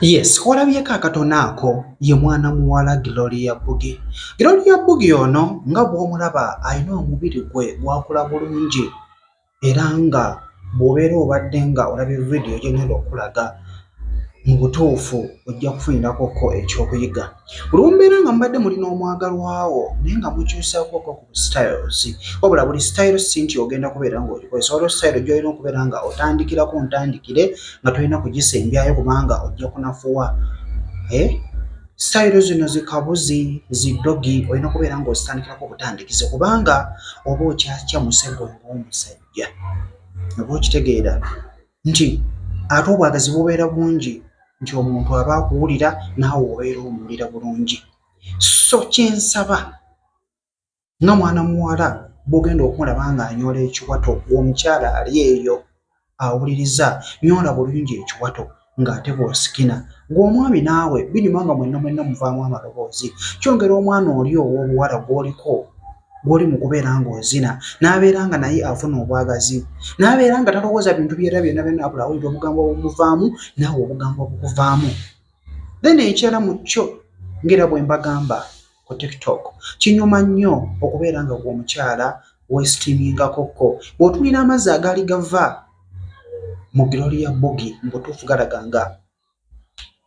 yes olabyeko akatono ako ye mwana muwala gloria bugi gloria bugi ono nga bw'omulaba alina omubiri gwe gwakula bulungi era nga bw'obeera obadde nga olabye vidiyo gyongenda okulaga mu butuufu ojja kufunirako ko ekyokuyiga olwombeera nga mubadde muli n'omwagalwawo naye nga mukyusaako styles wabula buli style si nti ogenda kubeera ng'ogikozesa waliwo style gy'olina okubeera nga otandikira ku ntandikire nga tolina kugisembyayo kubanga ojja kunafuwa eh? style zino zikabuzi zidogi olina okubeera ng'ozitandikirako obutandikize kubanga oba okyakya musego ng'omusajja oba okitegeera nti ate obwagazi bubeera bungi nti omuntu aba akuwulira naawe obeera omuwulira bulungi so kyensaba nga mwana muwala bwogenda okumulaba nga anyola ekiwato omukyala ali eyo awuliriza nyola bulungi ekiwato ng'ate bwosikina gweomwami naawe binyuma nga mwenna mwenna omuvaamu amaloboozi kyongera omwana oli ow'obuwala gwoliko gwoli mu kubeera ng'ozina n'abeera nga naye afuna obwagazi n'abeera nga talowooza bintu byera byonna byonna abula awulira obugambo obumuvaamu naawe obugambo obukuvaamu then ekyala mu kyo ngaera bwe mbagamba ku tiktok kinyuma nnyo okubeera nga gwe omukyala wesitiimingako ko bw'otunuulira amazzi agaali gava mu girooli ya bbugi mu butuufu galaga nga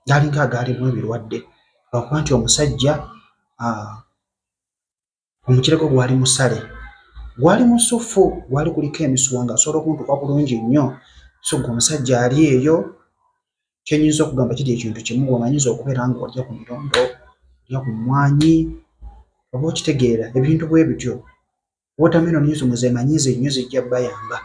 gaalinga agaalimu ebirwadde lwakuba nti omusajja omukira gwe gwali musale gwali musuffu gwali kuliko emisuwa nga asobola okuntuka bulungi nnyo so gwe omusajja ali eyo kyenyinza okugamba kiri ekintu kimu wamanyinza okubeera nga olya ku mirondo olya ku mwanyi oba okitegeera ebintu bwe bityo watermelon ezo muzemanyi zenyo zijja bayamba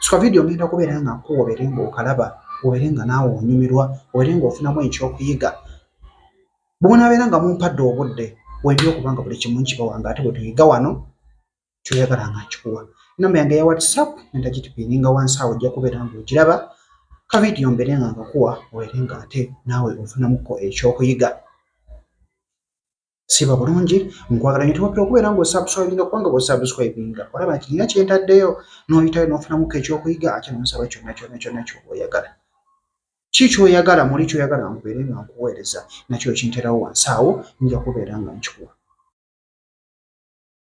sika vidiyo ngenda kubeera nga nkuwa obeere nga okalaba obeere nga naawe onyumirwa obeere nga ofunamu ekyokuyiga bwonabeera nga mumpadde obudde wendi okubanga buli kimu nkibawa nga ate bwe tuyiga wano kyoyagala nga nkikuwa namba yange ya whatsapp nenda gitupininga wansi awo ojja kubeera nga ogiraba ka vidiyo mbeere nga nkakuwa obeere nga ate naawe ofunamuko ekyokuyiga siba bulungi nkwagala nyo tewapira okubeera nga osubscribinga kubanga bwosubscribinga olaba nti nina kyentaddeyo noyitayo nofunamuko ekyokuyiga ate nonsaba kyonna kyonna kyonna kyoba oyagala ki kyoyagala muli kyoyagala nkubeere nga nkuweereza nakyo kinterawo wansi awo nja kubeera nga nkikuwa